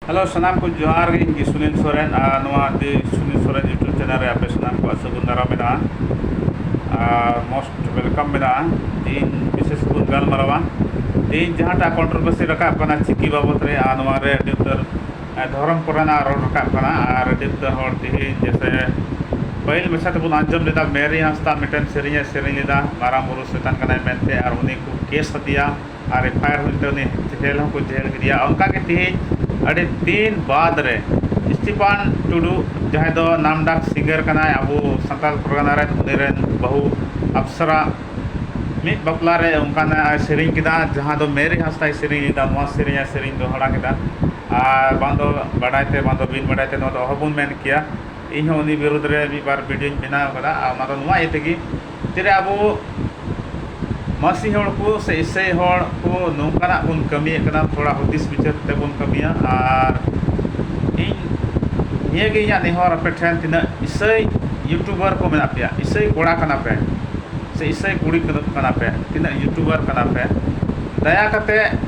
hello ᱥᱟᱱᱟᱢ ᱠᱚ ᱡᱚᱦᱟᱨ ᱜᱮ ᱤᱧ ᱜᱮ ᱥᱩᱱᱤᱞ ᱥᱚᱨᱮᱱ ᱟᱨ ᱱᱚᱣᱟ the Sunil Soren YouTube channel ᱨᱮ ᱟᱯᱮ ᱥᱟᱱᱟᱢ ᱠᱚᱣᱟᱜ ᱥᱟᱹᱜᱩᱱ ᱫᱟᱨᱟᱢ ᱢᱮᱱᱟᱜᱼᱟ ᱟᱨ ᱢᱳᱥᱴ ᱣᱮᱞᱠᱟᱢ ᱢᱮᱱᱟᱜᱼᱟ ᱛᱮᱦᱮᱧ ᱵᱤᱥᱮᱥ ᱵᱚᱱ ᱜᱟᱞᱢᱟᱨᱟᱣᱟ ᱛᱮᱦᱮᱧ ᱡᱟᱦᱟᱸᱴᱟᱜ ᱠᱚᱱᱴᱨᱳᱵᱷᱟᱨᱥᱤ ᱨᱟᱠᱟᱵ ᱠᱟᱱᱟ ᱪᱤᱠᱤ ᱵᱟᱵᱚᱫ ᱨᱮ ᱟᱨ ᱱᱚᱣᱟ ᱨᱮ ᱟᱹᱰᱤ ᱩᱛᱟᱹᱨ ᱫᱷᱚᱨᱚᱢ ᱠᱚᱨᱮᱱᱟᱜ ᱨᱚᱲ ᱨᱟᱠᱟᱵ ᱠᱟᱱᱟ ᱟᱨ ᱟᱹᱰᱤ ᱩᱛᱟᱹᱨ ᱦᱚᱲ ᱛᱮᱦᱮᱧ ᱡᱮᱥᱮ ᱯᱟᱹᱦᱤᱞ ᱢᱟᱪᱷᱟ ᱛᱮᱵᱚᱱ ᱟᱸᱡᱚᱢ ᱞᱮᱫᱟ ᱢᱮᱨᱤ ᱦᱟᱸᱥᱫᱟ ᱢᱤᱫᱴᱮᱱ ᱥᱮᱨᱮᱧᱮ ᱥᱮᱨᱮᱧ ᱞᱮᱫᱟ ᱢᱟᱨᱟᱝ ᱵᱩᱨᱩ ᱥᱮᱛᱟᱱ ᱠᱟᱱᱟᱭ ᱢᱮᱱᱛᱮ ᱟᱨ ᱩᱱᱤ ᱠᱚ ᱠᱮᱥ ᱟᱫᱮᱭᱟ ᱟᱨ ᱮᱯᱷ ᱟᱭ ᱟᱨ ᱦᱩᱭ ᱠᱟᱛᱮᱫ ᱩᱱᱤ ᱡᱮᱹᱞ ᱦᱚᱸᱠᱚ ᱡᱮᱹᱞ ᱠᱮᱫᱮᱭᱟ ᱚᱱᱠᱟ ᱜᱮ ᱛᱮᱦᱮᱧ ᱟᱹᱰᱤ ᱫᱤᱱ ᱵᱟᱫᱽ ᱨᱮ ᱥᱴᱤᱯᱷᱟᱱ ᱴᱩᱰᱩ ᱡᱟᱦᱟᱸᱭ ᱫᱚ ᱱᱟᱢ ᱰᱟᱠ ᱥᱤᱝᱜᱟᱨ ᱠᱟᱱᱟᱭ ᱟᱵᱚ ᱥᱟᱱᱛᱟᱲ ᱯᱟᱨᱜᱟᱱᱟ ᱨᱮᱱ ᱩᱱᱤ ᱨᱮᱱ ᱵᱟᱹᱦᱩ ᱟᱯᱥᱨᱟ ᱢᱤᱫ ᱵᱟᱯᱞᱟ ᱨᱮ ᱚᱱᱠᱟᱱᱟᱜ ᱮ ᱥᱮᱨᱮᱧ ᱠᱮᱫᱟ ᱡᱟᱦᱟᱸ ᱫᱚ ᱢᱮᱨᱤ ᱦᱟᱸᱥᱫᱟᱭ ᱥᱮᱨᱮᱧ ᱞᱮᱫᱟ ᱱᱚᱣᱟ ᱥᱮᱨᱮᱧ ᱮ ᱥᱮᱨᱮᱧ ᱫᱚᱦᱲᱟ ᱠᱮᱫᱟ ᱟᱨ ᱵᱟᱝ ᱫᱚ ᱵᱟᱰᱟᱭ ᱛᱮ ᱵᱟᱝ ᱫᱚ ᱵᱤᱱ ᱵᱟᱰᱟᱭ ᱛᱮ ᱱᱚᱣᱟ ᱫᱚ ᱚᱦᱚ ᱵᱚᱱ ᱢᱮᱱ ᱠᱮᱭᱟ ᱤᱧ ᱦᱚᱸ ᱩᱱᱤ ᱵᱤᱨᱩᱫᱽ ᱨᱮ ᱢᱤᱫ ᱵᱟᱨ ᱵᱷᱤᱰᱭᱳᱧ ᱵᱮᱱᱟᱣ ᱠᱟᱫᱟ ᱟᱨ ᱚᱱᱟ ᱫᱚ ᱱᱚᱣᱟ ᱤᱭᱟᱹ ᱛᱮᱜᱮ ᱛᱤᱱᱟᱹᱜ ᱟᱵᱚ ᱢᱟᱹᱥᱤ ᱦᱚᱲ ᱠᱚ ᱥᱮ ᱤᱥᱟᱹᱭ ᱦᱚᱲ ᱠᱚ ᱱᱚᱝᱠᱟᱱᱟᱜ ᱵᱚᱱ ᱠᱟᱹᱢᱤᱭᱮᱫ ᱠᱟᱱᱟ ᱛᱷᱚᱲᱟ ᱦᱩᱫᱤᱥ ᱵᱤᱪᱟᱹᱨ ᱠᱟᱛᱮᱫ ᱵᱚᱱ ᱠᱟᱹᱢᱤᱭᱟ ᱟᱨ ᱤᱧ ᱱᱤᱭᱟᱹ ᱜᱮ ᱤᱧᱟᱹᱜ ᱱᱮᱦᱚᱨ ᱟᱯᱮ ᱴᱷᱮᱱ ᱛᱤᱱᱟᱹᱜ ᱤᱥᱟᱹᱭ ᱤᱭᱩᱴᱩᱵᱟᱨ ᱠᱚ ᱢᱮᱱᱟᱜ ᱯᱮᱭᱟ ᱤᱥᱟᱹᱭ ᱠᱚᱲᱟ ᱠᱟᱱᱟ ᱯᱮ ᱥᱮ ᱤᱥᱟᱹᱭ ᱠᱩᱲᱤ ᱠᱟᱱᱟ ᱯᱮ ᱛᱤᱱᱟᱹᱜ ᱤᱭᱩᱴᱩᱵᱟᱨ ᱠᱟᱱᱟ ᱯᱮ ᱫᱟᱭᱟ ᱠᱟᱛᱮᱫ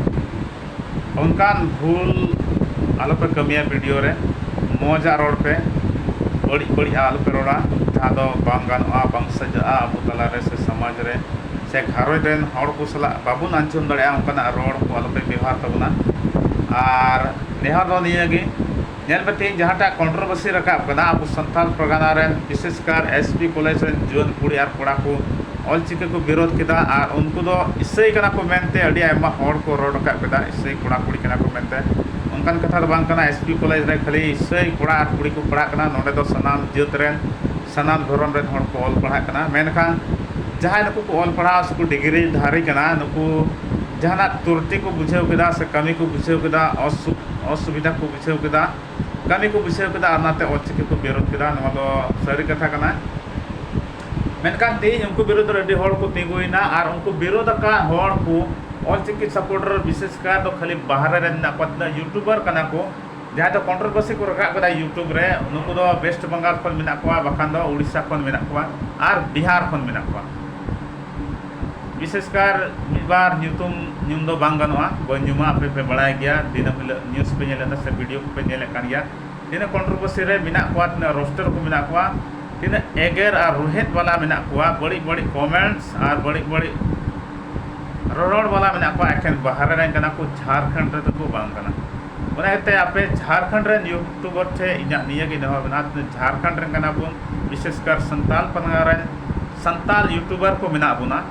ᱚᱱᱠᱟᱱ ᱵᱷᱩᱞ ᱟᱞᱚᱯᱮ ᱠᱟᱹᱢᱤᱭᱟ ᱵᱷᱤᱰᱤᱭᱳ ᱨᱮ ᱢᱚᱡᱟᱜ ᱨᱚᱲ ᱯᱮ ᱵᱟᱹᱲᱤᱡ ᱵᱟᱹᱲᱤᱡ ᱟᱜ ᱟᱞᱚᱯᱮ ᱨᱚᱲᱟ ᱡᱟᱦᱟᱸ ᱫᱚ ᱵᱟᱝ ᱜᱟᱱᱚᱜᱼᱟ ᱵᱟᱝ ᱥᱟᱡᱟᱜᱼᱟ ᱟᱵᱚ ᱛᱟᱞᱟ ᱨᱮ ᱥᱮ ᱥᱚᱢᱟᱡᱽ ᱨᱮ ᱥᱮ ᱜᱷᱟᱨᱚᱸᱡᱽ ᱨᱮᱱ ᱦᱚᱲ ᱠᱚ ᱥᱟᱞᱟᱜ ᱵᱟᱵᱚᱱ ᱟᱸᱡᱚᱢ ᱫᱟᱲᱮᱭᱟᱜᱼᱟ ᱚᱱᱠᱟᱱᱟᱜ ᱨᱚᱲ ᱠᱚ ᱟᱞᱚᱯᱮ ᱵᱮᱵᱚᱦᱟᱨ ᱛᱟᱵᱚᱱᱟ ᱟᱨ ᱱᱮᱦᱚᱨ ᱫᱚ ᱱᱤᱭᱟᱹ ᱜᱮ ᱧᱮᱞ ᱯᱮ ᱛᱮᱦᱮᱧ ᱡᱟᱦᱟᱸᱴᱟᱜ ᱠᱚᱱᱴᱨᱚᱵᱟᱹᱥᱤ ᱨᱟᱠᱟᱵ ᱟᱠᱟᱱᱟ ᱟᱵᱚ ᱥᱟᱱᱛᱟᱞ ᱯᱟᱨᱜᱟᱱᱟ ᱨᱮᱱ ᱵᱤᱥᱮᱥ ᱠᱟᱨ ᱮᱥ ᱯᱤ ᱠᱚᱞᱮᱡᱽ ᱨᱮᱱ ᱡᱩᱣᱟᱹᱱ ᱠᱩᱲᱤ ᱟᱨ ᱠᱚᱲᱟ ᱠᱚ ᱚᱞ ᱪᱤᱠᱤ ᱠᱚ ᱵᱤᱨᱳᱫᱷ ᱠᱮᱫᱟ ᱟᱨ ᱩᱱᱠᱩ ᱫᱚ ᱤᱥᱟᱹᱭ ᱠᱟᱱᱟ ᱠᱚ ᱢᱮᱱᱛᱮ ᱟᱹᱰᱤ ᱟᱭᱢᱟ ᱦᱚᱲ ᱠᱚ ᱨᱚᱲ ᱨᱟᱠᱟᱵ ᱠᱮᱫᱟ ᱤᱥᱟᱹᱭ ᱠᱚᱲᱟ ᱠᱩᱲᱤ ᱠᱟᱱᱟ ᱠᱚ ᱢᱮᱱᱛᱮ ᱚᱱᱠᱟᱱ ᱠᱟᱛᱷᱟ ᱫᱚ ᱵᱟᱝ ᱠᱟᱱᱟ ᱮᱥ ᱯᱤ ᱠᱚᱞᱮᱡᱽ ᱨᱮ ᱠᱷᱟᱹᱞᱤ ᱤᱥᱟᱹᱭ ᱠᱚᱲᱟ ᱟᱨ ᱠᱩᱲᱤ ᱠᱚ ᱯᱟᱲᱦᱟᱜ ᱠᱟᱱᱟ ᱱᱚᱸᱰᱮ ᱫᱚ ᱥᱟᱱᱟᱢ ᱡᱟᱹᱛ ᱨᱮᱱ ᱥᱟᱱᱟᱢ ᱫᱷᱚᱨᱚᱢ ᱨᱮᱱ ᱦᱚᱲ ᱠᱚ ᱚᱞ ᱯᱟᱲᱦᱟᱜ ᱠᱟᱱᱟ ᱢᱮᱱᱠᱷᱟᱱ ᱡᱟᱦᱟᱸᱭ ᱱᱩᱠᱩ ᱠᱚ ᱚᱞ ᱯᱟᱲᱦᱟᱣ ᱥᱮ ᱠᱚ ᱰᱤᱜᱽᱨᱤ ᱫᱷᱟᱨᱤ ᱠᱟᱱᱟ ᱱᱩᱠᱩ ᱡᱟᱦᱟᱸᱱᱟᱜ ᱛᱩᱨᱴᱤ ᱠᱚ ᱵᱩᱡᱷᱟᱹᱣ ᱠᱮᱫᱟ ᱥᱮ ᱠᱟᱹᱢᱤ ᱠᱚ ᱵᱩᱡᱷᱟᱹᱣ ᱠᱮᱫᱟ ᱚᱥᱩᱠᱷ ᱚᱥᱩᱵᱤᱫᱷᱟ ᱠᱚ ᱵᱩᱡᱷᱟᱹᱣ ᱠᱮᱫᱟ ᱠᱟᱹᱢᱤ ᱠᱚ ᱵᱩᱡᱷᱟᱹᱣ ᱠᱮᱫᱟ ᱟᱨ ᱚᱱᱟᱛᱮ ᱚᱞ ᱪᱤᱠᱤ ᱠᱚ ᱵᱤᱨᱳᱫᱷ ᱠᱮᱫᱟ ᱱᱚᱣᱟ ᱫᱚ ᱥᱟᱹᱨᱤ ᱠᱟᱛᱷᱟ ᱠᱟᱱᱟ ᱢᱮᱱᱠᱷᱟᱱ ᱛᱮᱦᱮᱧ ᱩᱱᱠᱩ ᱵᱤᱨᱩᱫᱷ ᱨᱮ ᱟᱹᱰᱤ ᱦᱚᱲ ᱠᱚ ᱛᱤᱸᱜᱩᱭᱮᱱᱟ ᱟᱨ ᱩᱱᱠᱩ ᱵᱤᱨᱳᱫᱷ ᱟᱠᱟᱫ ᱦᱚᱲ ᱠᱚ ᱚᱞ ᱪᱤᱠᱤ ᱥᱟᱯᱳᱨᱴᱟᱨ ᱵᱤᱥᱮᱥ ᱠᱟᱨ ᱫᱚ ᱠᱷᱟᱹᱞᱤ ᱵᱟᱦᱨᱮ ᱨᱮ ᱢᱮᱱᱟᱜ ᱠᱚᱣᱟ ᱛᱤᱱᱟᱹᱜ ᱤᱭᱩᱴᱩᱵᱟᱨ ᱠᱟᱱᱟ ᱠᱚ ᱡᱟᱦᱟᱸᱭ ᱫᱚ ᱠᱚᱱᱴᱨᱳᱵᱷᱟᱨᱥᱤ ᱠᱚ ᱨᱟᱠᱟᱵ ᱠᱮᱫᱟ ᱤᱭᱩᱴᱩᱵᱽ ᱨᱮ ᱱᱩᱠᱩ ᱫᱚ ᱣᱮᱥᱴ ᱵᱮᱝᱜᱚᱞ ᱠᱷᱚᱱ ᱢᱮᱱᱟᱜ ᱠᱚᱣᱟ ᱵᱟᱠᱷᱟᱱ ᱫᱚ ᱳᱰᱤᱥᱟ ᱠᱷᱚᱱ ᱢᱮᱱᱟᱜ ᱠᱚᱣᱟ ᱟᱨ ᱵᱤᱦᱟᱨ ᱠᱷᱚᱱ ᱢᱮᱱᱟᱜ ᱠᱚᱣᱟ ᱵᱤᱥᱮᱥ ᱠᱟᱨ ᱢᱤᱫ ᱵᱟᱨ ᱧᱩᱛᱩᱢ ᱧᱩᱢ ᱫᱚ ᱵᱟᱝ ᱜᱟᱱᱚᱜᱼᱟ ᱵᱟᱹᱧ ᱧᱩᱢᱟ ᱟᱯᱮ ᱯᱮ ᱵᱟᱲᱟᱭ ᱜᱮᱭᱟ ᱫᱤᱱᱟᱹᱢ ᱦᱤᱞᱳᱜ ᱱᱤᱭᱩᱡᱽ ᱯᱮ ᱧᱮᱞᱮᱫᱟ ᱥᱮ ᱵᱷᱤᱰᱤᱭᱳ ᱠᱚᱯᱮ ᱧᱮᱞᱮᱫ ᱠᱟᱱ ᱜᱮᱭᱟ ᱛᱤᱱᱟᱹᱜ ᱠᱚᱱᱴᱨᱳᱵᱷᱟᱨᱥᱤ ᱨᱮ ᱢᱮᱱᱟᱜ ᱠᱚᱣᱟ ᱛᱤᱱᱟᱹᱜ ᱨᱳᱥᱴᱟᱨ ᱠᱚ ᱢᱮᱱᱟᱜ ᱠᱚᱣᱟ ᱛᱤᱱᱟᱹᱜ ᱮᱜᱮᱨ ᱟᱨ ᱨᱳᱦᱮᱫ ᱵᱟᱞᱟ ᱢᱮᱱᱟᱜ ᱠᱚᱣᱟ ᱵᱟᱹᱲᱤᱡ ᱵᱟᱹᱲᱤᱡ ᱠᱚᱢᱮᱱᱴᱥ ᱟᱨ ᱵᱟᱹᱲᱤᱡ ᱵᱟᱹᱲᱤᱡ ᱨᱚᱨᱚᱲ ᱵᱟᱞᱟ ᱢᱮᱱᱟᱜ ᱠᱚᱣᱟ ᱮᱠᱷᱮᱱ ᱵᱟᱦᱨᱮ ᱨᱮᱱ ᱠᱟᱱᱟ ᱠᱚ ᱡᱷᱟᱲᱠᱷᱚᱸᱰ ᱨᱮᱫᱚ ᱠᱚ ᱵᱟᱝ ᱠᱟᱱᱟ ᱚᱱᱟ ᱤᱭᱟᱹᱛᱮ ᱟᱯᱮ ᱡᱷᱟᱲᱠᱷᱚᱸᱰ ᱨᱮᱱ ᱤᱭᱩᱴᱩᱵᱟᱨ ᱴᱷᱮᱱ ᱤᱧᱟᱹᱜ ᱱᱤᱭᱟᱹᱜᱮ ᱱᱮᱦᱚᱨ ᱢᱮᱱᱟᱜᱼᱟ ᱡᱷᱟᱲᱠᱷᱚᱸᱰ ᱨᱮᱱ ᱠᱟᱱᱟ ᱵᱚᱱ ᱵᱤᱥᱮᱥ ᱠᱟᱨ ᱥᱟᱱᱛᱟᱲ ᱯᱟᱨᱜᱟᱱᱟ ᱨᱮᱱ ᱥᱟᱱᱛᱟᱲ ᱤᱭᱩᱴᱩᱵᱟᱨ ᱠᱚ ᱢᱮᱱᱟᱜ ᱵᱚᱱᱟ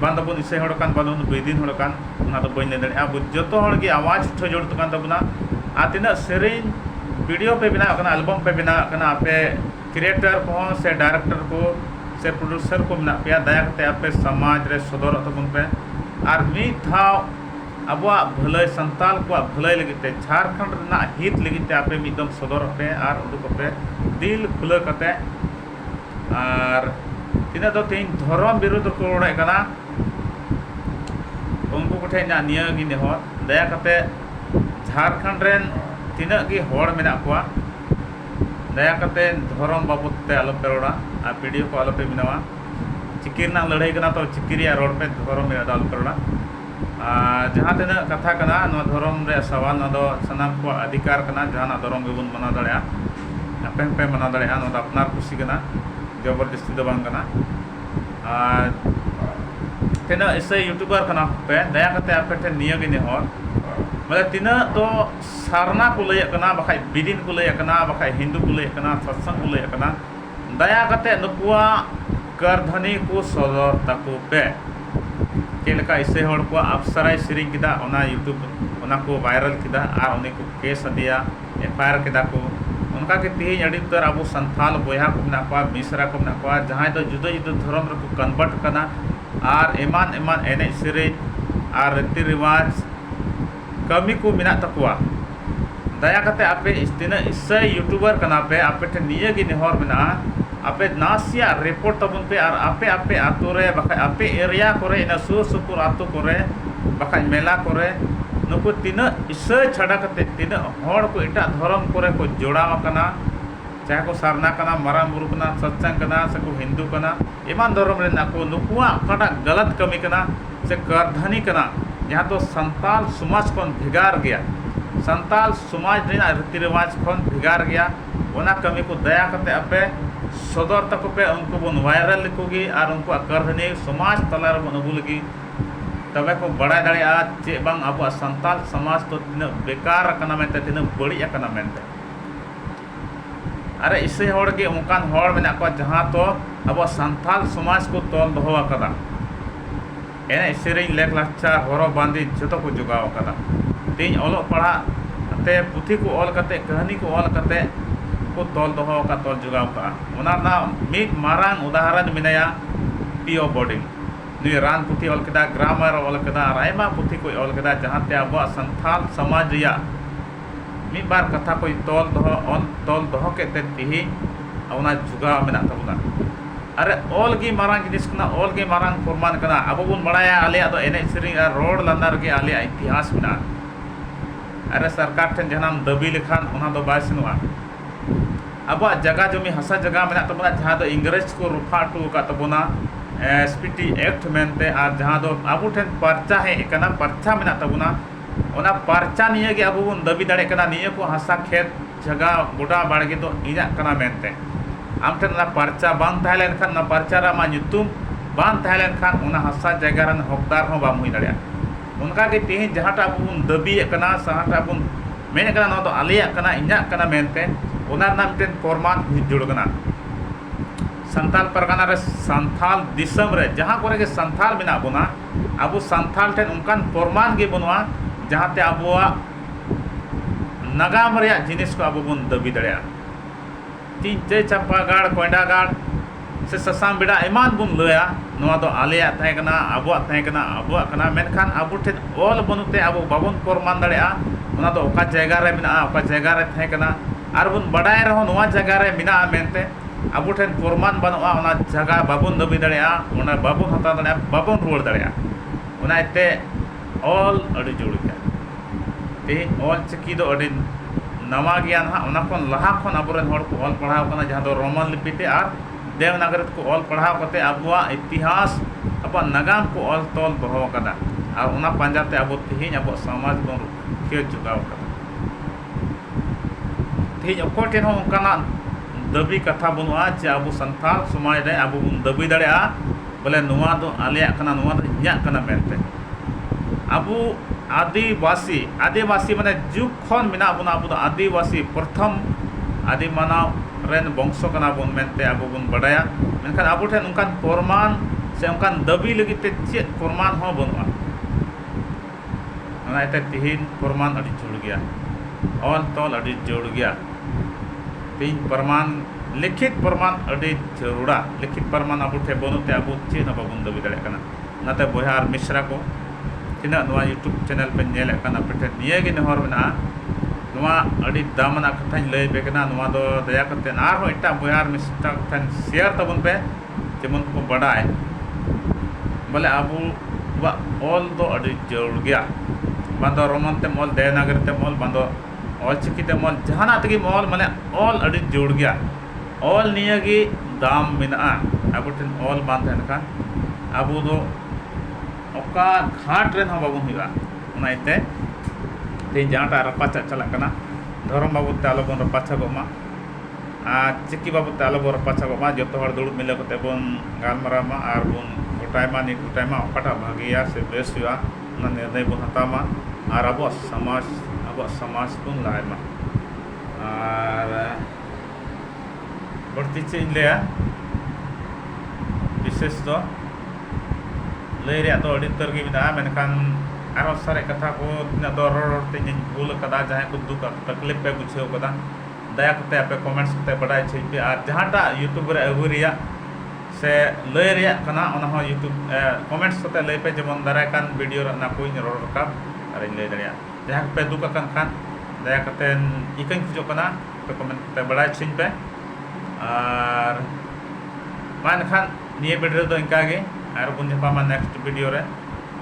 ᱵᱟᱝ ᱫᱚᱵᱚᱱ ᱤᱥᱟᱹᱭ ᱦᱚᱲ ᱠᱟᱱ ᱵᱟᱝ ᱫᱚᱵᱚᱱ ᱵᱟᱹᱭᱫᱤᱱ ᱦᱚᱲ ᱠᱟᱱ ᱚᱱᱟ ᱫᱚ ᱵᱟᱹᱧ ᱞᱟᱹᱭ ᱫᱟᱲᱮᱭᱟᱜᱼᱟ ᱟᱵᱚ ᱡᱚᱛᱚ ᱦᱚᱲ ᱜᱮ ᱟᱣᱟᱡᱽ ᱩᱴᱷᱟᱹᱣ ᱡᱟᱹᱨᱩᱲ ᱠᱟᱱ ᱛᱟᱵᱚᱱᱟ ᱟᱨ ᱛᱤᱱᱟᱹᱜ ᱥᱮᱨᱮᱧ ᱵᱷᱤᱰᱭᱳ ᱯᱮ ᱵᱮᱱᱟᱣ ᱮᱫ ᱠᱟᱱᱟ ᱮᱞᱵᱟᱢ ᱯᱮ ᱵᱮᱱᱟᱣ ᱮᱫ ᱠᱟᱱᱟ ᱟᱯᱮ ᱠᱨᱤᱭᱮᱴᱟᱨ ᱠᱚ ᱦᱚᱸ ᱥᱮ ᱰᱟᱭᱨᱮᱠᱴᱚᱨ ᱠᱚ ᱥᱮ ᱯᱨᱚᱰᱩᱥᱟᱨ ᱠᱚ ᱢᱮᱱᱟᱜ ᱯᱮᱭᱟ ᱫᱟᱭᱟ ᱠᱟᱛᱮᱫ ᱟᱯᱮ ᱥᱚᱢᱟᱡᱽ ᱨᱮ ᱥᱚᱫᱚᱨᱚᱜ ᱛᱟᱵᱚᱱ ᱯᱮ ᱟᱨ ᱢᱤᱫ ᱫᱷᱟᱣ ᱟᱵᱚᱣᱟᱜ ᱵᱷᱟᱹᱞᱟᱹᱭ ᱥᱟᱱᱛᱟᱲ ᱠᱚᱣᱟᱜ ᱵᱷᱟᱹᱞᱟᱹᱭ ᱞᱟᱹᱜᱤᱫ ᱛᱮ ᱡᱷᱟᱲᱠᱷᱚᱸᱰ ᱨᱮᱱᱟᱜ ᱦᱤᱛ ᱞᱟᱹᱜᱤᱫ ᱛᱮ ᱟᱯᱮ ᱢᱤᱫ ᱫᱚᱢ ᱥᱚᱫᱚᱨᱚᱜ ᱯᱮ ᱟᱨ ᱩᱰᱩᱠᱚᱜ ᱯᱮ ᱫᱤᱞ ᱠᱷᱩᱞᱟᱹᱣ ᱠᱟᱛᱮᱫ ᱟᱨ ᱛᱤᱱᱟᱹᱜ ᱫᱚ ᱛᱮᱦᱮᱧ ᱫᱷᱚᱨᱚᱢ ᱵᱤᱨᱩᱫᱷ ᱨᱮᱠᱚ ᱨᱚᱲᱮᱫ ᱠᱟᱱᱟ ᱩᱱᱠᱩ ᱠᱚᱴᱷᱮᱱ ᱤᱧᱟᱹᱜ ᱱᱤᱭᱟᱹᱜᱮ ᱱᱮᱦᱚᱨ ᱫᱟᱭᱟ ᱠᱟᱛᱮ ᱡᱷᱟᱲᱠᱷᱚᱸᱰ ᱨᱮᱱ ᱛᱤᱱᱟᱹᱜ ᱜᱮ ᱦᱚᱲ ᱢᱮᱱᱟᱜ ᱠᱚᱣᱟ ᱫᱟᱭᱟ ᱠᱟᱛᱮ ᱫᱷᱚᱨᱚᱢ ᱵᱟᱵᱚᱫ ᱛᱮ ᱟᱞᱚ ᱯᱮ ᱨᱚᱲᱟ ᱟᱨ ᱵᱷᱤᱰᱤᱭᱳ ᱠᱚ ᱟᱞᱚ ᱯᱮ ᱵᱮᱱᱟᱣᱟ ᱪᱤᱠᱤ ᱨᱮᱱᱟᱜ ᱞᱟᱹᱲᱦᱟᱹᱭ ᱠᱟᱱᱟ ᱛᱚ ᱪᱤᱠᱤ ᱨᱮᱭᱟᱜ ᱨᱚᱲ ᱯᱮ ᱫᱷᱚᱨᱚᱢ ᱨᱮᱭᱟᱜ ᱫᱚ ᱟᱞᱚ ᱯᱮ ᱨᱚᱲᱟ ᱟᱨ ᱡᱟᱦᱟᱸ ᱛᱤᱱᱟᱹᱜ ᱠᱟᱛᱷᱟ ᱠᱟᱱᱟ ᱱᱚᱣᱟ ᱫᱷᱚᱨᱚᱢ ᱨᱮᱭᱟᱜ ᱥᱟᱣᱟᱞ ᱱᱚᱣᱟ ᱫᱚ ᱥᱟᱱᱟᱢ ᱠᱚᱣᱟᱜ ᱚᱫᱷᱤᱠᱟᱨ ᱠᱟᱱᱟ ᱡᱟᱦᱟᱱᱟᱜ ᱫᱷᱚᱨᱚᱢ ᱜᱮᱵᱚᱱ ᱢᱟᱱᱟᱣ ᱫᱟᱲᱮᱭᱟᱜᱼᱟ ᱟᱯᱮ ᱦᱚᱸᱯᱮ ᱢᱟᱱᱟᱣ ᱫᱟᱲᱮᱭᱟᱜᱼᱟ ᱱᱚᱣᱟ ᱫᱚ ᱟᱯᱱᱟᱨ ᱠᱩᱥᱤ ᱠᱟᱱᱟ ᱡᱚᱵᱚᱨ ᱡᱚᱥᱛᱤ ᱫᱚ ᱵᱟᱝ ᱠᱟᱱᱟ ᱟᱨ ᱛᱤᱱᱟᱹᱜ ᱮᱥᱮ ᱤᱭᱩᱴᱩᱵᱟᱨ ᱠᱟᱱᱟ ᱯᱮ ᱫᱟᱭᱟ ᱠᱟᱛᱮᱫ ᱟᱯᱮ ᱴᱷᱮᱱ ᱱᱤᱭᱟᱹ ᱜᱮ ᱱᱮᱦᱚᱨ ᱵᱚᱞᱮ ᱛᱤᱱᱟᱹᱜ ᱫᱚ ᱥᱟᱨᱱᱟ ᱠᱚ ᱞᱟᱹᱭᱟᱜ ᱠᱟᱱᱟ ᱵᱟᱠᱷᱟᱡ ᱵᱤᱫᱤᱱ ᱠᱚ ᱞᱟᱹᱭᱟᱜ ᱠᱟᱱᱟ ᱵᱟᱠᱷᱟᱡ ᱦᱤᱱᱫᱩ ᱠᱚ ᱞᱟᱹᱭᱟᱜ ᱠᱟᱱᱟ ᱥᱟᱛᱥᱚᱝ ᱠᱚ ᱞᱟᱹᱭᱟᱜ ᱠᱟᱱᱟ ᱫᱟᱭᱟ ᱠᱟᱛᱮᱫ ᱱᱩᱠᱩᱣᱟᱜ ᱠᱟᱹᱨᱫᱷᱟᱹᱱᱤ ᱠᱚ ᱥᱚᱫᱚᱨ ᱛᱟᱠᱚ ᱯᱮ ᱪᱮᱫ ᱞᱮᱠᱟ ᱤᱥᱟᱹᱭ ᱦᱚᱲ ᱠᱚᱣᱟᱜ ᱟᱯᱥᱟᱨᱟᱭ ᱥᱮᱨᱮᱧ ᱠᱮᱫᱟ ᱚᱱᱟ ᱤᱭᱩᱴᱩᱵᱽ ᱚᱱᱟ ᱠᱚ ᱵᱷᱟᱭᱨᱟᱞ ᱠᱮᱫᱟ ᱟᱨ ᱩᱱᱤ ᱠᱚ ᱠᱮᱥ ᱟᱫᱮᱭᱟ ᱮᱯᱷ ᱟᱭ ᱟᱨ ᱠᱮᱫᱟ ᱠᱚ ᱚᱱᱠᱟ ᱜᱮ ᱛᱮᱦᱮᱧ ᱟᱹᱰᱤ ᱩᱛᱟᱹᱨ ᱟᱵᱚ ᱥᱟᱱᱛᱟᱲ ᱵᱚᱭᱦᱟ ᱠᱚ ᱢᱮᱱᱟᱜ ᱠᱚᱣᱟ ᱢᱤᱥᱨᱟ ᱠᱚ ᱢᱮᱱᱟᱜ ᱠᱚᱣᱟ ᱡᱟᱦᱟᱸᱭ ᱫᱚ ᱡᱩᱫᱟᱹ ᱡᱩᱫᱟᱹ ᱫᱷᱚᱨᱚᱢ ᱨᱮᱠᱚ ᱠᱚᱱᱵᱷᱟᱨᱴ ᱟᱠᱟᱱᱟ ᱟᱨ ᱮᱢᱟᱱ ᱮᱢᱟᱱ ᱮᱱᱮᱡ ᱥᱮᱨᱮᱧ ᱟᱨ ᱨᱤᱛᱤ ᱨᱮᱣᱟᱡᱽ ᱠᱟᱹᱢᱤ ᱠᱚ ᱢᱮᱱᱟᱜ ᱛᱟᱠᱚᱣᱟ ᱫᱟᱭᱟ ᱠᱟᱛᱮ ᱟᱯᱮ ᱛᱤᱱᱟᱹᱜ ᱤᱥᱟᱹᱭ ᱤᱭᱩᱴᱩᱵᱟᱨ ᱠᱟᱱᱟ ᱯᱮ ᱟᱯᱮ ᱴᱷᱮᱱ ᱱᱤᱭᱟᱹ ᱜᱮ ᱱᱮᱦᱚᱨ ᱢᱮᱱᱟᱜᱼᱟ ᱟᱯᱮ ᱱᱟᱥᱮᱭᱟᱜ ᱨᱤᱯᱳᱨᱴ ᱛᱟᱵᱚᱱ ᱯᱮ ᱟᱨ ᱟᱯᱮ ᱟᱯᱮ ᱟᱹᱛᱩ ᱨᱮ ᱵᱟᱠᱷᱟᱡ ᱟᱯᱮ ᱮᱨᱤᱭᱟ ᱠᱚᱨᱮ ᱤᱱᱟᱹ ᱥᱩᱨ ᱥᱩᱯᱩᱨ ᱟᱹᱛᱩ ᱠᱚᱨᱮ ᱵᱟᱠᱷᱟᱡ ᱢᱮᱞᱟ ᱠᱚᱨᱮ ᱱᱩᱠᱩ ᱛᱤᱱᱟᱹᱜ ᱤᱥᱟᱹᱭ ᱪᱷᱟᱰᱟ ᱠᱟᱛᱮ ᱛᱤᱱᱟᱹᱜ ᱦᱚᱲ ᱠᱚ ᱮᱴᱟᱜ ᱫᱷᱚᱨᱚᱢ ᱠᱚᱨᱮ ᱠᱚ ᱡᱚᱲᱟᱣ ᱟᱠᱟᱱᱟ ᱡᱟᱦᱟᱸᱭ ᱠᱚ ᱥᱟᱨᱱᱟ ᱠᱟᱱᱟ ᱢᱟᱨᱟᱝ ᱵᱩᱨᱩ ᱠᱟᱱᱟ ᱥᱚᱛᱥᱟᱝ ᱠᱟᱱᱟ ᱥᱮ ᱠᱚ ᱦᱤᱱᱫᱩ ᱠᱟᱱᱟ ᱮᱢᱟᱱ ᱫᱷᱚᱨᱚᱢ ᱨᱮᱱ ᱟᱠᱚ ᱱᱩᱠᱩᱣᱟᱜ ᱚᱠᱟᱴᱟᱜ ᱜᱟᱞᱟᱛ ᱠᱟᱹᱢᱤ ᱠᱟᱱᱟ ᱥᱮ ᱠᱟᱹᱨᱫᱷᱟᱹᱱᱤ ᱠᱟᱱᱟ ᱡᱟᱦᱟᱸ ᱫᱚ ᱥᱟᱱᱛᱟᱲ ᱥᱚᱢᱟᱡᱽ ᱠᱷᱚᱱ ᱵᱷᱮᱜᱟᱨ ᱜᱮᱭᱟ ᱥᱟᱱᱛᱟᱲ ᱥᱚᱢᱟᱡᱽ ᱨᱮᱱᱟᱜ ᱨᱤᱛᱤ ᱨᱮᱣᱟᱡᱽ ᱠᱷᱚᱱ ᱵᱷᱮᱜᱟᱨ ᱜᱮᱭᱟ ᱚᱱᱟ ᱠᱟᱹᱢᱤ ᱠᱚ ᱫᱟᱭᱟ ᱠᱟᱛᱮᱫ ᱟᱯᱮ ᱥᱚᱫᱚᱨ ᱛᱟᱠᱚ ᱯᱮ ᱩᱱᱠᱩ ᱵᱚᱱ ᱵᱷᱟᱭᱨᱟᱞ ᱞᱮᱠᱚ ᱜᱮ ᱟᱨ ᱩᱱᱠᱩᱣᱟᱜ ᱠᱟᱹᱨᱫᱷᱟᱹᱱᱤ ᱥᱚᱢᱟᱡᱽ ᱛᱟᱞᱟ ᱨᱮᱵᱚᱱ ᱟᱹᱜᱩ ᱞᱮᱜᱮ ᱛᱚᱵᱮ ᱠᱚ ᱵᱟᱲᱟᱭ ᱫᱟᱲᱮᱭᱟᱜᱼᱟ ᱪᱮᱫ ᱵᱟᱝ ᱟᱵᱚᱣᱟᱜ ᱥᱟᱱᱛᱟᱲ ᱥᱚᱢᱟᱡᱽ ᱫᱚ ᱛᱤᱱᱟᱹᱜ ᱵᱮᱠᱟᱨ ᱟᱠᱟᱱᱟ ᱢᱮᱱᱛᱮ ᱛᱤᱱᱟᱹᱜ ᱵᱟᱹᱲᱤᱡ ᱟᱠᱟᱱᱟ ᱢᱮᱱᱛᱮ ᱟᱨᱮ ᱤᱥᱟᱹᱭ ᱦᱚᱲ ᱜᱮ ᱚᱱᱠᱟᱱ ᱦᱚᱲ ᱢᱮᱱᱟᱜ ᱠᱚᱣᱟ ᱡᱟᱦᱟᱸ ᱫᱚ ᱟᱵᱚ ᱥᱟᱱᱛᱟᱲ ᱥᱚᱢᱟᱡᱽ ᱠᱚ ᱛᱚᱞ ᱫᱚᱦᱚ ᱟᱠᱟᱫᱟ ᱮᱱᱮᱡ ᱥᱮᱨᱮᱧ ᱞᱮᱠ ᱞᱟᱠᱪᱟᱨ ᱦᱚᱨᱚᱜ ᱵᱟᱸᱫᱮ ᱡᱚᱛᱚ ᱠᱚ ᱡᱚᱜᱟᱣ ᱟᱠᱟᱫᱟ ᱛᱮᱦᱮᱧ ᱚᱞᱚᱜ ᱯᱟᱲᱦᱟᱜ ᱛᱮ ᱯᱩᱛᱷᱤ ᱠᱚ ᱚᱞ ᱠᱟᱛᱮᱫ ᱠᱟᱹᱦᱱᱤ ᱠᱚ ᱚᱞ ᱠᱟᱛᱮᱫ ᱠᱚ ᱛᱚᱞ ᱫᱚᱦᱚ ᱟᱠᱟᱫ ᱛᱚᱞ ᱡᱚᱜᱟᱣ ᱟᱠᱟᱫᱼᱟ ᱚᱱᱟ ᱨᱮᱱᱟᱜ ᱢᱤᱫ ᱢᱟᱨᱟᱝ ᱩᱫᱟᱦᱚᱨᱚᱱ ᱢᱮᱱᱟᱭᱟ ᱯᱤ ᱳ ᱵᱳᱰᱤᱝ ᱱᱩᱭ ᱨᱟᱱ ᱯᱩᱛᱷᱤ ᱚᱞ ᱠᱮᱫᱟ ᱜᱨᱟᱢᱟᱨ ᱚᱞ ᱠᱮᱫᱟ ᱟᱨ ᱟᱭᱢᱟ ᱯᱩᱛᱷᱤ ᱠᱚᱭ ᱚᱞ ᱠᱮᱫᱟ ᱡᱟᱦᱟᱸ ᱛᱮ ᱟᱵᱚᱣᱟᱜ ᱥᱟᱱᱛᱟᱲ ᱥᱚᱢᱟᱡᱽ ᱨᱮᱭᱟᱜ ᱢᱤᱫ ᱵᱟᱨ ᱠᱟᱛᱷᱟ ᱠᱚᱧ ᱛᱚᱞ ᱫᱚᱦᱚ ᱚᱞ ᱛᱚᱞ ᱫᱚᱦᱚ ᱠᱮᱫ ᱛᱮ ᱛᱮᱦᱮᱧ ᱚᱱᱟ ᱡᱚᱜᱟᱣ ᱢᱮᱱᱟᱜ ᱛᱟᱵᱚᱱᱟ ᱟᱨ ᱚᱞ ᱜᱮ ᱢᱟᱨᱟᱝ ᱡᱤᱱᱤᱥ ᱠᱟᱱᱟ ᱚᱞ ᱜᱮ ᱢᱟᱨᱟᱝ ᱯᱨᱚᱢᱟᱱ ᱠᱟᱱᱟ ᱟᱵᱚ ᱵᱚᱱ ᱵᱟᱲᱟᱭᱟ ᱟᱞᱮᱭᱟᱜ ᱫᱚ ᱮᱱᱮᱡ ᱥᱮᱨᱮᱧ ᱟᱨ ᱨᱚᱲ ᱞᱟᱸᱫᱟ ᱨᱮᱜᱮ ᱟᱞᱮᱭᱟᱜ ᱤᱛᱤᱦᱟᱥ ᱢᱮᱱᱟᱜᱼᱟ ᱟᱨ ᱥᱚᱨᱠᱟᱨ ᱴᱷᱮᱱ ᱡᱟᱦᱟᱱᱟᱜ ᱮᱢ ᱫᱟᱹᱵᱤ ᱞᱮᱠᱷᱟᱱ ᱚᱱᱟ ᱫᱚ ᱵᱟᱭ ᱥᱮᱱᱚᱜᱼᱟ ᱟᱵᱚᱣᱟᱜ ᱡᱟᱭᱜᱟ ᱡᱚᱢᱤ ᱦᱟᱥᱟ ᱡᱟᱭᱜᱟ ᱢᱮᱱᱟᱜ ᱛᱟᱵᱚᱱᱟ ᱡᱟᱦᱟᱸ ᱫᱚ ᱤᱝᱨᱮᱡᱽ ᱠᱚ ᱨᱚᱯᱷᱟ ᱦᱚᱴᱚ ᱟᱠᱟᱫ ᱛᱟᱵᱚᱱᱟ ᱮᱥ ᱯᱤ ᱴᱤ ᱮᱠᱴ ᱢᱮᱱᱛᱮ ᱟᱨ ᱡᱟᱦᱟᱸ ᱫᱚ ᱟᱵᱚ ᱴᱷᱮᱱ ᱯᱟᱨᱪᱟ ᱦᱮᱡ ᱟᱠᱟᱱᱟ ᱯᱟᱨᱪᱟ ᱢᱮᱱᱟᱜ ᱛᱟᱵᱚᱱᱟ ᱚᱱᱟ ᱯᱟᱨᱪᱟ ᱱᱤᱭᱟᱹ ᱜᱮ ᱟᱵᱚ ᱵᱚᱱ ᱫᱟᱹᱵᱤ ᱫᱟᱲᱮᱭᱟᱜ ᱠᱟᱱᱟ ᱱᱤᱭᱟᱹ ᱠᱚ ᱦᱟᱥᱟ ᱠᱷᱮᱛ ᱡᱟᱭᱜᱟ ᱜᱚᱰᱟ ᱵᱟᱲᱜᱮ ᱫᱚ ᱤᱧᱟᱹᱜ ᱠᱟᱱᱟ ᱢᱮᱱᱛᱮ ᱟᱢ ᱴᱷᱮᱱ ᱚᱱᱟ ᱯᱟᱨᱪᱟ ᱵᱟᱝ ᱛᱟᱦᱮᱸ ᱞᱮᱱᱠᱷᱟᱱ ᱚᱱᱟ ᱯᱟᱨᱪᱟ ᱨᱮ ᱟᱢᱟᱜ ᱧᱩᱛᱩᱢ ᱵᱟᱝ ᱛᱟᱦᱮᱸ ᱞᱮᱱᱠᱷᱟᱱ ᱚᱱᱟ ᱦᱟᱥᱟ ᱡᱟᱭᱜᱟ ᱨᱮᱱ ᱦᱚᱠᱫᱟᱨ ᱦᱚᱸ ᱵᱟᱢ ᱦᱩᱭ ᱫᱟᱲᱮᱭᱟᱜᱼᱟ ᱚᱱᱠᱟ ᱜᱮ ᱛᱮᱦᱤᱧ ᱡᱟᱦᱟᱸᱴᱟᱜ ᱟᱵᱚ ᱵᱚᱱ ᱫᱟᱹᱵᱤᱭᱮᱫ ᱠᱟᱱᱟ ᱥᱮ ᱡᱟᱦᱟᱸᱴᱟᱜ ᱵᱚᱱ ᱢᱮᱱᱮᱫ ᱠᱟᱱᱟ ᱱᱚᱣᱟ ᱫᱚ ᱟᱞᱮᱭᱟᱜ ᱠᱟᱱᱟ ᱤᱧᱟᱹᱜ ᱠᱟᱱᱟ ᱢᱮᱱᱛᱮ ᱚᱱᱟ ᱨᱮᱱᱟᱜ ᱢᱤᱫᱴᱮᱱ ᱯᱨᱚᱢᱟᱱ ᱦᱩᱭ ᱡᱟᱹᱨᱩᱲ ᱠᱟᱱᱟ ᱥᱟᱱᱛᱟᱲ ᱯᱟᱨᱜᱟᱱᱟ ᱨᱮ ᱥᱟᱱᱛᱟᱲ ᱫᱤᱥᱚᱢ ᱨᱮ ᱡᱟᱦᱟᱸ ᱠᱚᱨᱮ ᱜᱮ ᱥᱟᱱᱛᱟᱲ ᱢᱮᱱᱟᱜ ᱵᱚᱱᱟ ᱟᱵᱚ ᱥᱟᱱᱛᱟᱲ ᱴᱷᱮᱱ ᱚᱱᱠᱟᱱ ᱯᱨᱚᱢᱟᱱ ᱜᱮ ᱵᱟᱹᱱᱩᱜᱼᱟ ᱡᱟᱦᱟᱸᱛᱮ ᱟᱵᱚᱣᱟᱜ ᱱᱟᱜᱟᱢ ᱨᱮᱭᱟᱜ ᱡᱤᱱᱤᱥ ᱠᱚ ᱟᱵᱚ ᱵᱚᱱ ᱫᱟᱹᱵᱤ ᱫᱟᱲᱮᱭᱟᱜᱼᱟ ᱛᱮᱦᱤᱧ ᱪᱟᱹᱭ ᱪᱟᱢᱯᱟ ᱜᱟᱲ ᱠᱚᱭᱰᱟ ᱜᱟᱲ ᱥᱮ ᱥᱟᱥᱟᱝ ᱵᱮᱰᱟ ᱮᱢᱟᱱ ᱵᱚᱱ ᱞᱟᱹᱭᱟ ᱱᱚᱣᱟ ᱫᱚ ᱟᱞᱮᱭᱟᱜ ᱛᱟᱦᱮᱸ ᱠᱟᱱᱟ ᱟᱵᱚᱣᱟᱜ ᱛᱟᱦᱮᱸ ᱠᱟᱱᱟ ᱟᱵᱚᱣᱟᱜ ᱠᱟᱱᱟ ᱢᱮᱱᱠᱷᱟᱱ ᱟᱵᱚ ᱴᱷᱮᱱ ᱚᱞ ᱵᱟᱹᱱᱩᱜ ᱛᱮ ᱟᱵᱚ ᱵᱟᱵᱚᱱ ᱯᱨᱚᱢᱟᱱ ᱫᱟᱲᱮᱭᱟᱜᱼᱟ ᱚᱱᱟ ᱫᱚ ᱚᱠᱟ ᱡᱟᱭᱜᱟ ᱨᱮ ᱢᱮᱱᱟᱜᱼᱟ ᱚᱠᱟ ᱡᱟᱭᱜᱟ ᱨᱮ ᱛᱟᱦᱮᱸ ᱠᱟᱱᱟ ᱟᱨ ᱵᱚᱱ ᱵᱟᱰᱟᱭ ᱨᱮᱦᱚᱸ ᱱᱚᱣᱟ ᱡᱟᱭᱜᱟ ᱨᱮ ᱢᱮᱱᱟᱜᱼᱟ ᱢᱮᱱᱛᱮ ᱟᱵᱚ ᱴᱷᱮᱱ ᱯᱨᱚᱢᱟᱱ ᱵᱟᱹᱱᱩᱜᱼᱟ ᱚᱱᱟ ᱡᱟᱭᱜᱟ ᱵᱟᱵᱚᱱ ᱫᱟᱹᱵᱤ ᱫᱟᱲᱮᱭᱟᱜᱼᱟ ᱚᱱᱟ ᱵᱟᱵᱚᱱ ᱦᱟᱛᱟᱣ ᱫᱟᱲᱮᱭᱟᱜᱼᱟ ᱵᱟᱵᱚᱱ ᱨᱩᱣᱟᱹᱲ ᱫᱟᱲᱮᱭᱟᱜᱼᱟ ᱚᱱᱟ ᱤᱭᱟᱹᱛᱮ ᱚᱞ ᱟᱹᱰᱤ ᱡᱳᱨ ᱜᱮᱭᱟ ᱛᱮᱦᱤᱧ ᱚᱞ ᱪᱤᱠᱤ ᱫᱚ ᱟᱹᱰᱤ ᱱᱟᱣᱟ ᱜᱮᱭᱟ ᱦᱟᱸᱜ ᱚᱱᱟ ᱠᱷᱚᱱ ᱞᱟᱦᱟ ᱠᱷᱚᱱ ᱟᱵᱚ ᱨᱮᱱ ᱦᱚᱲ ᱠᱚ ᱚᱞ ᱯᱟᱲᱦᱟᱣ ᱠᱟᱱᱟ ᱡᱟᱦᱟᱸ ᱫᱚ ᱨᱳᱢᱟᱱ ᱞᱤᱯᱤ ᱛᱮ ᱟᱨ ᱫᱮᱵᱽᱱᱟᱜᱚᱨᱤ ᱛᱮᱠᱚ ᱚᱞ ᱯᱟᱲᱦᱟᱣ ᱠᱟᱛᱮᱫ ᱟᱵᱚᱣᱟᱜ ᱤᱛᱤᱦᱟᱥ ᱟᱵᱚᱣᱟᱜ ᱱᱟᱜᱟᱢ ᱠᱚ ᱚᱞ ᱛᱚᱞ ᱫᱚᱦᱚ ᱟᱠᱟᱫᱟ ᱟᱨ ᱚᱱᱟ ᱯᱟᱸᱡᱟ ᱛᱮ ᱟᱵᱚ ᱛᱮᱦᱤᱧ ᱟᱵᱚᱣᱟᱜ ᱥᱚᱢᱟᱡᱽ ᱵᱚᱱ ᱨᱩᱠᱷᱤᱭᱟᱹ ᱡᱚᱜᱟᱣ ᱟᱠᱟᱫᱟ ᱛᱮᱦᱮᱧ ᱚᱠᱚᱭ ᱴᱷᱮᱱ ᱦᱚᱸ ᱚᱱᱠᱟᱱᱟᱜ ᱫᱟᱹᱵᱤ ᱠᱟᱛᱷᱟ ᱵᱟᱹᱱᱩᱜᱼᱟ ᱡᱮ ᱟᱵᱚ ᱥᱟᱱᱛᱟᱲ ᱥᱚᱢᱟᱡᱽ ᱨᱮ ᱟᱵᱚ ᱵᱚᱱ ᱫᱟᱹᱵᱤ ᱫᱟᱲᱮᱭᱟᱜᱼᱟ ᱵᱚᱞᱮ ᱱᱚᱣᱟ ᱫᱚ ᱟᱞᱮᱭᱟᱜ ᱠᱟᱱᱟ ᱱᱚᱣᱟ ᱫᱚ ᱤᱧᱟᱹᱜ ᱠᱟᱱᱟ ᱢᱮᱱᱛᱮ ᱟᱵᱚ ᱟᱹᱫᱤᱵᱟᱹᱥᱤ ᱟᱹᱫᱤᱵᱟᱹᱥᱤ ᱢᱟᱱᱮ ᱡᱩᱜᱽ ᱠᱷᱚᱱ ᱢᱮᱱᱟᱜ ᱵᱚᱱᱟ ᱟᱵᱚ ᱫᱚ ᱟᱹᱫᱤᱵᱟᱹᱥᱤ ᱯᱨᱚᱛᱷᱚᱢ ᱟᱹᱫᱤᱢ ᱢᱟᱱᱟᱣ ᱨᱮᱱ ᱵᱚᱝᱥᱚ ᱠᱟᱱᱟ ᱵᱚᱱ ᱢᱮᱱᱛᱮ ᱟᱵᱚ ᱵᱚᱱ ᱵᱟᱰᱟᱭᱟ ᱢᱮᱱᱠᱷᱟᱱ ᱟᱵᱚ ᱴᱷᱮᱱ ᱚᱱᱠᱟᱱ ᱯᱨᱚᱢᱟᱱ ᱥᱮ ᱚᱱᱠᱟᱱ ᱫᱟᱹᱵᱤ ᱞᱟᱹᱜᱤᱫ ᱛᱮ ᱪᱮᱫ ᱯᱨᱚᱢᱟᱱ ᱦᱚᱸ ᱵᱟᱹᱱᱩᱜᱼᱟ ᱚᱱᱟ ᱤᱭᱟᱹᱛᱮ ᱛᱤᱦᱤᱧ ᱯᱨᱚᱢᱟᱱ ᱟᱹᱰᱤ ᱡᱩᱲ ᱜᱮᱭᱟ ᱚᱞ ᱛᱚᱞ ᱟᱹᱰᱤ ᱡᱩᱲ ᱜᱮᱭᱟ ᱛᱤᱦᱤᱧ ᱯᱨᱚᱢᱟᱱ ᱞᱤᱠᱷᱤᱛ ᱯᱨᱚᱢᱟᱱ ᱟᱹᱰᱤ ᱡᱟᱹᱨᱩᱲᱟ ᱞᱤᱠᱷᱤᱛ ᱯᱨᱚᱢᱟᱱ ᱟᱵᱚ ᱴᱷᱮᱱ ᱵᱟᱹᱱᱩᱜ ᱛᱮ ᱟᱵᱚ ᱪᱮᱫ ᱦᱚᱸ ᱵᱟᱵᱚᱱ ᱫᱟᱹᱵᱤ ᱫᱟᱲᱮᱭᱟᱜ ᱠᱟᱱᱟ ᱚᱱᱟᱛᱮ ᱵᱚᱭᱦᱟ ᱟᱨ ᱢᱤᱥᱨᱟ ᱠᱚ ᱛᱤᱱᱟᱹᱜ ᱱᱚᱣᱟ ᱤᱭᱩᱴᱩᱵᱽ ᱪᱮᱱᱮᱞ ᱯᱮ ᱧᱮᱞᱮᱫ ᱠᱟᱱ ᱟᱯᱮ ᱴᱷᱮᱱ ᱱᱤᱭᱟᱹ ᱜᱮ ᱱᱮᱦᱚᱨ ᱢᱮᱱᱟᱜᱼᱟ ᱱᱚᱣᱟ ᱟᱹᱰᱤ ᱫᱟᱢᱟᱱᱟᱜ ᱠᱟᱛᱷᱟᱧ ᱞᱟᱹᱭ ᱟᱯᱮ ᱠᱟᱱᱟ ᱱᱚᱣᱟ ᱫᱚ ᱫᱟᱭᱟ ᱠᱟᱛᱮᱫ ᱟᱨᱦᱚᱸ ᱮᱴᱟᱜ ᱵᱚᱭᱦᱟ ᱟᱨ ᱢᱤᱥᱨᱟ ᱠᱚᱴᱷᱮᱱ ᱥᱮᱭᱟᱨ ᱛᱟᱵᱚᱱ ᱯᱮ ᱡᱮᱢᱚᱱ ᱠᱚ ᱵᱟᱰᱟᱭ ᱵᱚᱞᱮ ᱟᱵᱚᱣᱟᱜ ᱚᱞ ᱫᱚ ᱟᱹᱰᱤ ᱡᱟᱹᱨᱩᱲ ᱜᱮᱭᱟ ᱵᱟᱝ ᱫᱚ ᱨᱳᱢᱟᱱ ᱛᱮᱢ ᱚᱞ ᱫᱮᱵᱽᱱᱟᱜᱚᱨᱤ ᱛᱮᱢ ᱚᱞ ᱵᱟᱝ ᱫᱚ ᱚᱞ ᱪᱤᱠᱤ ᱛᱮᱢ ᱚᱞ ᱡᱟᱦᱟᱱᱟᱜ ᱛᱮᱜᱮᱢ ᱚᱞ ᱢᱟᱱᱮ ᱚᱞ ᱟᱹᱰᱤ ᱡᱟᱹᱨᱩᱲ ᱜᱮᱭᱟ ᱚᱞ ᱱᱤᱭᱮ ᱜᱮ ᱫᱟᱢ ᱢᱮᱱᱟᱜᱼᱟ ᱟᱵᱚ ᱴᱷᱮᱱ ᱚᱞ ᱵᱟᱝ ᱛᱟᱦᱮᱱ ᱠᱷᱟᱱ ᱟᱵᱚ ᱫᱚ ᱚᱠᱟ ᱜᱷᱟᱴ ᱨᱮᱱ ᱦᱚᱸ ᱵᱟᱵᱚᱱ ᱦᱩᱭᱩᱜᱼᱟ ᱚᱱᱟ ᱤᱭᱟᱹᱛᱮ ᱛᱮᱦᱤᱧ ᱡᱟᱦᱟᱸᱴᱟᱜ ᱨᱟᱯᱟᱪᱟᱜ ᱪᱟᱞᱟᱜ ᱠᱟᱱᱟ ᱫᱷᱚᱨᱚᱢ ᱵᱟᱵᱚᱫ ᱛᱮ ᱟᱞᱚ ᱵᱚᱱ ᱨᱟᱯᱟᱪᱟᱜᱚᱜ ᱢᱟ ᱟᱨ ᱪᱮᱫ ᱠᱚ ᱵᱟᱵᱚᱛ ᱛᱮ ᱟᱞᱚ ᱵᱚᱱ ᱨᱟᱯᱟ ᱪᱟᱵᱟᱜ ᱢᱟ ᱡᱚᱛᱚ ᱦᱚᱲ ᱫᱩᱲᱩᱵ ᱢᱤᱞᱟᱹᱣ ᱠᱟᱛᱮᱫ ᱵᱚᱱ ᱜᱟᱞᱢᱟᱨᱟᱣ ᱢᱟ ᱟᱨ ᱵᱚᱱ ᱜᱚᱴᱟᱭ ᱢᱟ ᱱᱤᱛ ᱜᱚᱴᱟᱭ ᱢᱟ ᱚᱠᱟᱴᱟᱜ ᱵᱷᱟᱹᱜᱤᱭᱟ ᱥᱮ ᱵᱮᱥ ᱦᱩᱭᱩᱜᱼᱟ ᱚᱱᱟ ᱱᱤᱨᱱᱚᱭ ᱵᱚᱱ ᱦᱟᱛᱟᱣ ᱢᱟ ᱟᱨ ᱟᱵᱚᱣᱟᱜ ᱥᱚᱢᱟᱡᱽ ᱟᱵᱚᱣᱟᱜ ᱥᱚᱢᱟᱡᱽ ᱵᱚᱱ ᱞᱟᱦᱟᱭ ᱢᱟ ᱟᱨ ᱵᱟᱹᱲᱛᱤ ᱪᱮᱫ ᱤᱧ ᱞᱟᱹᱭᱟ ᱵᱤᱥᱮᱥ ᱫᱚ ᱞᱟᱹᱭ ᱨᱮᱭᱟᱜ ᱫᱚ ᱟᱹᱰᱤ ᱩᱛᱟᱹᱨ ᱜᱮ ᱢᱮᱱᱟᱜᱼᱟ ᱢᱮᱱᱠᱷᱟᱱ ᱟᱨᱦᱚᱸ ᱥᱟᱨᱮᱡ ᱠᱟᱛᱷᱟ ᱠᱚ ᱛᱤᱱᱟᱹᱜ ᱫᱚ ᱨᱚᱲ ᱨᱚᱲ ᱛᱮ ᱤᱧᱤᱧ ᱵᱷᱩᱞ ᱟᱠᱟᱫᱟ ᱡᱟᱦᱟᱸᱭ ᱠᱚ ᱫᱩᱠ ᱟᱨ ᱛᱟᱠᱷᱞᱤᱯ ᱯᱮ ᱵᱩᱡᱷᱟᱹᱣ ᱟᱠᱟᱫᱟ ᱫᱟᱭᱟ ᱠᱟᱛᱮ ᱟᱯᱮ ᱠᱚᱢᱮᱱᱴᱥ ᱠᱚᱛᱮ ᱵᱟᱰᱟᱭ ᱚᱪᱚᱭ ᱯᱮ ᱟᱨ ᱡᱟᱦᱟᱸᱴᱟᱜ ᱭᱩᱴᱩᱵᱽ ᱨᱮ ᱟᱹᱜᱩᱭ ᱨᱮᱭᱟᱜ ᱥᱮ ᱞᱟᱹᱭ ᱨᱮᱭᱟᱜ ᱠᱟᱱᱟ ᱚᱱᱟ ᱦᱚᱸ ᱭᱩᱴᱩᱵᱽ ᱠᱚᱢᱮᱱᱴᱥ ᱠᱚᱛᱮ ᱞᱟᱹᱭ ᱯᱮ ᱡᱮᱢᱚᱱ ᱫᱟᱨᱟᱭ ᱠᱟᱱ ᱵᱤᱰᱤᱭᱳ ᱨᱮ ᱚᱱᱟ ᱠᱚᱧ ᱨᱚᱲ ᱨᱟᱠᱟᱵ ᱟᱨᱤᱧ ᱞᱟᱹᱭ ᱫᱟᱲᱮᱭᱟᱜ ᱡᱟᱦᱟᱸ ᱠᱚᱯᱮ ᱫᱩᱠ ᱟᱠᱟᱱ ᱠᱷᱟᱱ ᱫᱟᱭᱟ ᱠᱟᱛᱮ ᱤᱠᱟᱹᱧ ᱠᱷᱚᱡᱚᱜ ᱠᱟᱱᱟ ᱟᱯᱮ ᱠᱚᱢᱮᱱᱴ ᱠᱚᱛᱮ ᱵᱟᱰᱟᱭ ᱚᱪᱚᱧ ᱯᱮ ᱟᱨ ᱢᱟ ᱮᱱᱠᱷᱟᱱ ᱱᱤᱭᱟᱹ ᱵᱤᱰᱤᱭᱳ ᱨᱮᱫᱚ ᱤᱱᱠᱟ ᱜᱮ ᱟᱨ ᱵᱚᱱ ᱧᱟᱯᱟᱢᱟ ᱱᱮᱠᱥᱴ ᱵᱤᱰᱤᱭᱳ ᱨᱮ